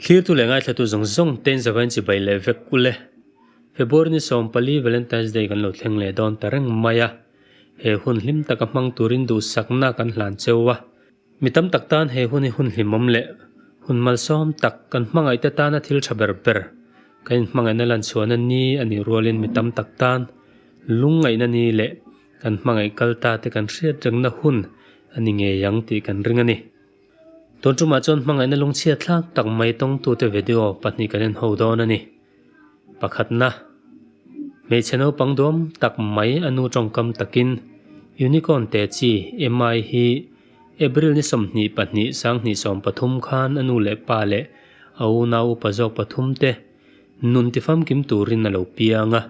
Thirtu leh ngaithlatu zawng zawng ten zavain chi bai leh vek ule. February ni sawm pali Valentine's Day kan lo thleng leh dawn ta reng mai a, he hun hlim taka hmang turin duhsakna kan hlan cheu a. Mi tam tak tan he hun hi hun hlimawm leh hun malsawm tak kan hmangaih te tana thil tha ber ber kan inhmangaihna lanchhuahna ni a nih rualin mi tam tak tan lungngaihna ni leh kan hmangaih kal ta te kan hriat rengna hun a ni ngei ang tih kan ring a ni. Tun tumah chuan hmangaihna lungchhiat thlak tak mai tawngtute video pahnih kan inho dawn a ni. Pakhatna, hmeichhe naupang duam tak mai a nu tawngkam takin Unicorn te chi Emai hi April ni sawmhnih pahnih sanghnih sawm pathum khan a nu leh pa leh a unau upa zawk pathumte nun ti famkim turin a lo piang a.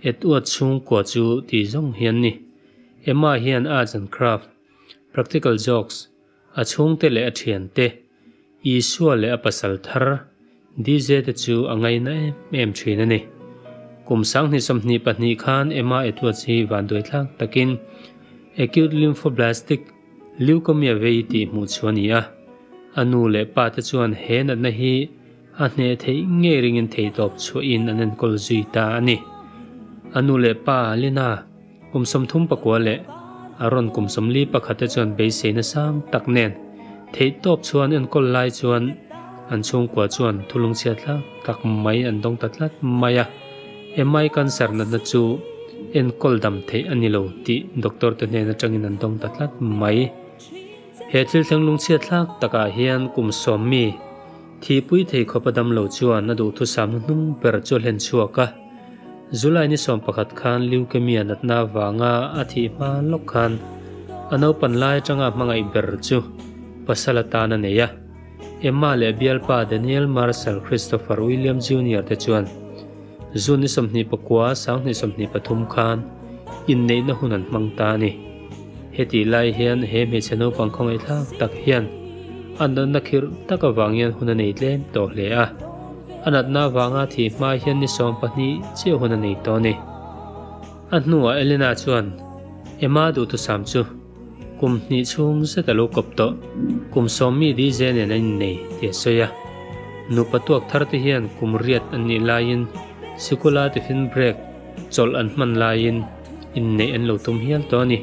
At uat chhungkua chu ti zawng hi an ni. Emai hian Arts and Craft, Practical Jokes, A chhungte leh a thiante, Isua leh a pasal thar, DJ, te chu a ngaina em em thin a ni. Kum Sanghnih sawmhnih pahnih khan Emma Edwards hi vanduai tlak takin Acute Lymphoblastic Leukaemia vei tih hmuh chhu a ni a, a nu leh pa te chuan he natna hi, a hneh theih ngei ringin theihtawp chhuahin an enkawl zui ta a ni. A nu leh pa Lina, kum sawmthum pakua leh a rawn kum sawmli pakhate chuan beiseina sang tak nen theihtawp chhuahin enkawl lai chuan an chhungkua chuan thulungchhia tlang tak mai an dawng ta tlat mai a. Emai cancer natna chu enkawl dam theih a ni lo tih doctor te hnen atangin an dawng ta tlat mai. He thil thleng lungchhia thlak takah hian kum sawmmi, Thihpui thei khawp a dam lo chuan a duhthusam na hnung ber chu a hlen chhuak a. July ni sawm pakhat khan leukemia natna avanga a thih hma lawk khan a naupan lai atanga hmangaih ber chu pasal atan a nei a. Emma leh bialpa Daniel Marshall Christopher William Junior te chuan June ni sawmhnih pakua sanghnih sawmhnih pathum khan inneihna hun an hmang ta a ni. Hetih lai hian he hmeichhe naupang khawngaihthlak tak hian a natna khirh tak avang hian hun a nei tlem tawh hle a. A natna avanga thih hma hian ni sawm pahnih chiah hun a nei tawh a ni. A hnuah Elena chuan, Ema duhthusam chu. Kum hnih chhung zet a lo kawp tawh, kum sawm mi dj nen a innei ti a sawi a. Nupa tuak thar te hian kum riat an nih laiin sikula tiffin break chawlh an hman laiin inneih an lo tum hial tawh a ni.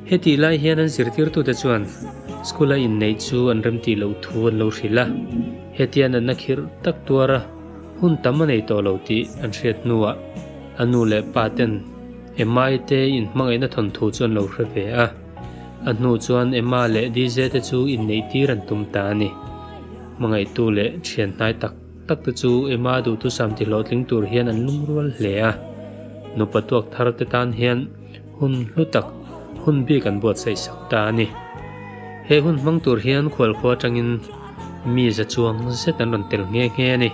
Hetih lai hian an zirtirtute chuan sikula inneih chu an remti loh thu an lo hrilh a, hetian an na khirh tak tuar a, hun tam a nei tawh lo tih an hriat hnuah a nu leh pa ten, Emma i te in hmangaihna thawnthu chu an lo hre ve a, a hnu chuan Emma leh DJ te chu inneih tir an tum ta a ni. Hmangaihtu leh thian hnai tak tak te chu Emma duhtu sam tihlawh tling tur hian an lung rual hle a, nupa tuak thar te tan hian hun hlu tak, hun bik an buatsaih sak ta a ni. He hun hmang tur hian khualkhua atangin mi za chuang zet an rawn tel nghe nghe a ni.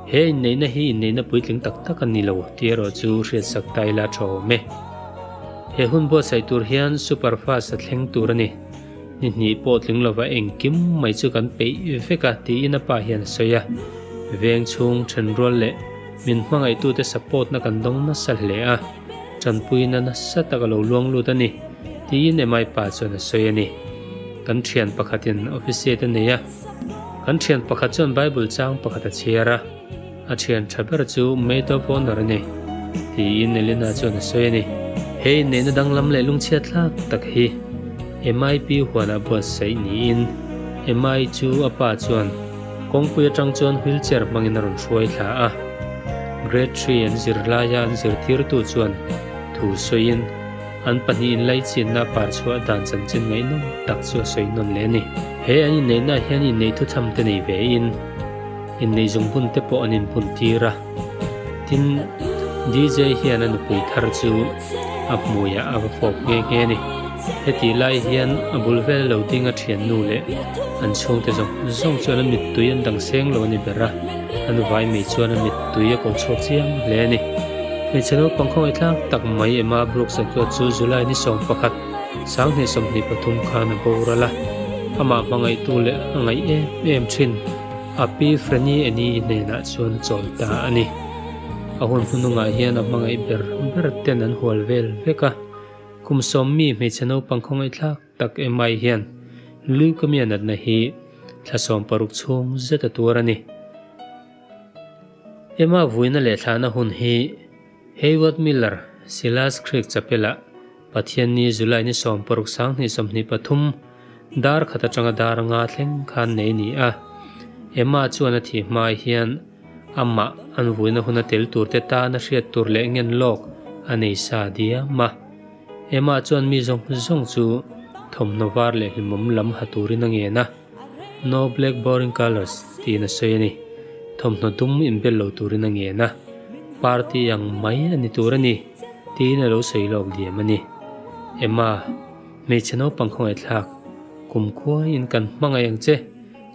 He inneihna hi inneihna puitling tak tak a ni lo, ti erawh chu hriatsak ta ila tha awm e. He hun buatsaih tur hian super fast a thleng tur a ni. Ni hnih pawh tling lova engkim mai chu kan peih vek a, tiin a pa hian a sawi a. Veng chhung, thenrual leh min hmangaihtute'n support-na kan dawng nasa hle a, tanpuina nasa tak a lo luang lut a ni, tiin MI pa chuan a sawi a ni. Kan thian pakhatin office-te nei a. Kan thian pakhat chuan Bible chang pakhat a chhiar a, a thian tha ber chu Maid of Honour a ni, tiin Elena chuan a sawi a ni. He inneihna danglam leh lungchhiathlak tak hi Emma-i pi huanah buatsaih niin Emma-i chu a pa chuan kawngpui atang chuan wheelchair hmangin a rawn hruai thla a. Grade Three an zir laia an zirtirtu chuan thu sawiin, An pahnihin laichianna par chhuah dan chanchin ngaihnawm tak chu a sawi nawn leh a ni. He an inneihna ah hian inneih thuchhamte nei ve in inneih zung bunte pawh an inhmun tir a. Tin, DJ hian a nupui thar chu a hmui ah a va fawp nghe nghe a ni. Hetih lai hian a bul vel lo ding a thiannu leh an chhungte zawng zawng chuan a mittui an dang seng lo a ni ber a. A nuvai mi chuan a mit tui a kawl chhuak chiang hle a ni. Hmeichhe naupang khawngaih thlak tak mai em a Brooks a chuah chu July ni sawm pakhat, Sanghnih sawmhnih pathum khan a boral a. Amah hmangaihtu leh a ngaih em em thin a pi Franny Annie hnenah chuan a chawl ta a ni. A hun hnuhnungah hian a hmangaih ber ber ten an hual vel vek a. Kum sawm mi hmeichhe naupang khawngaih thlak. Tak em ai hian leukemia natna hi thlasawm paruk chhung zeta tur a ni. Emma vuina leh thlahna hun hi Hayward Miller Silas Creek Chapela Pathianni July ni sawm paruk sang hnih sawmhnih pathum dar khat atanga dar nga thleng khan nei ni a. Emma chuan a thih hma ai hian, Amah an vuina huna tel turte tan a hriat tur leh ngen lawk a nei sa diam a. Emma chuan mi zawng zawng chu thawmhnaw var leh hlimawm lam ha turin a ngen a, No black boring colours tiin a sawi a ni. Thawmhnaw dum inbel lo turin a ngen a. Party ang mai a ni tur a ni tiin a lo sawi lawk diam a ni. Emma, Hmeichhe naupang khawngaih thlak kum khuaiin kan hmangaih ang che.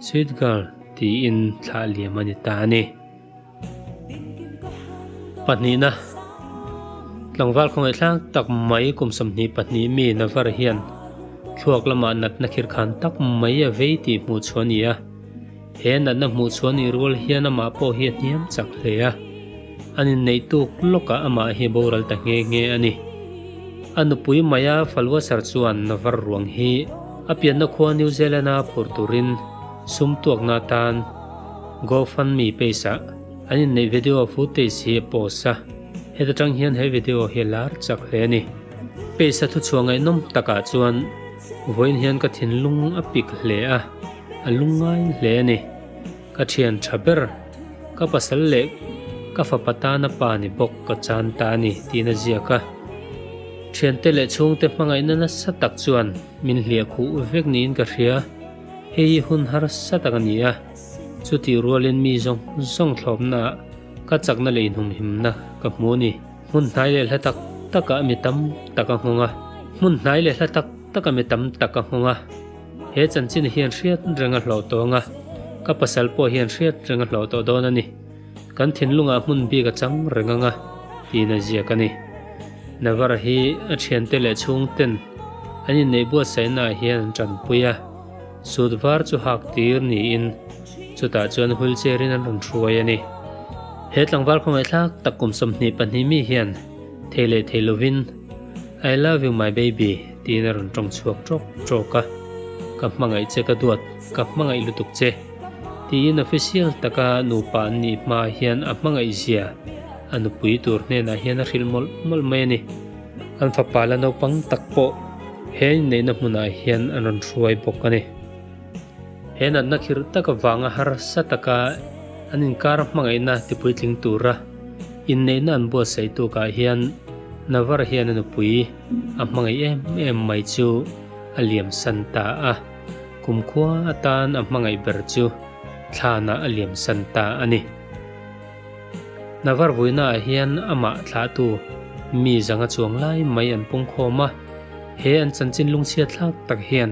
Sweet girl tiin thlah liam a ni ta a ni. Pahnihna, Tlangval khawngaih thlak tak mai kum sawmhnih pahnih mi Navar hian thluak lama natna khirkhan tak mai a vei tih hmuh chhuah a ni a. He natna hmuh chhuah a nih rual hian amah pawh hi a hniam chak hle a. An inneih tuk lawkah amah hi boral ta nghe nghe a ni. A nupui Maya Falwasar chuan var ruang hi a pianna khua New Zealand-a phur turin sum tuakna atan Go Fund Me page-ah an inneih video footage hi a post a. Heta tang hian he video hi a lar chak hle a ni. Page-a thuchhuah ngaihnawm takah chuan vawiin hian ka thinlung a pik hle a, a lungngai hle a ni. Ka thian tha ber. Ka pasal leh ka fapa tana pa ni bawk ka chan ta a ni tiin a ziak a. Thiante leh chhungte hmangaihna nasa tak chuan min hliah khuh vek niin ka hria. Hei hi hun harsa tak a ni a, chutih rualin mi zawng zawng thlawpnaah ka chakna leh inhumhimna ka hmu a ni. Hmunhnai leh hla tak taka mi tam tak a nghawng a. Hmunhnai leh hla tak taka mi tam tak a nghawng a. He chanchin hian hriat reng a hlauh tawng a, ka pasal pawh hian hriat reng a hlauh tawh dawn a ni. Kan thinlungah hmun bik a chang reng ang a, tiin a ziak a ni. Navarra hi a thiante leh chhungten an inneih buatsaihnaah hian an tanpui a, sut var chu hak tir niin chutah chuan wheelchair-in an rawn hruai a ni. He tlangval khawngaihthlak tak kum sawmhnih pahnih mi hian thei leh thei lovin I love you my baby, Tiin a rawn tawng chhuak trawk trawk a, ka hmangaih che ka duat, ka hmangaih lutuk che. Tiin official taka nupa an nih hma hian a hmangaihzia a nupui tur hnenah hian a hrilh mawlh mawlh mai a ni. An fapa la naupang tak pawh he inneihna hmunah hian an rawn hruai bawk a ni. He natna khirh tak avanga harsa taka an inkar a hmangaihna tipuitling tura inneihna an buatsaih tukah hian Navar hian a nupui, A hmangaih em em mai chu a liam san ta a, kumkhua atan a hmangaih ber chu thlanah a liam san ta a ni. Navarvuinaah hian amah thlahtu mi zanga chuang lai mai an pungkhawm a, he an chanchin lungchhiatthlak tak hian,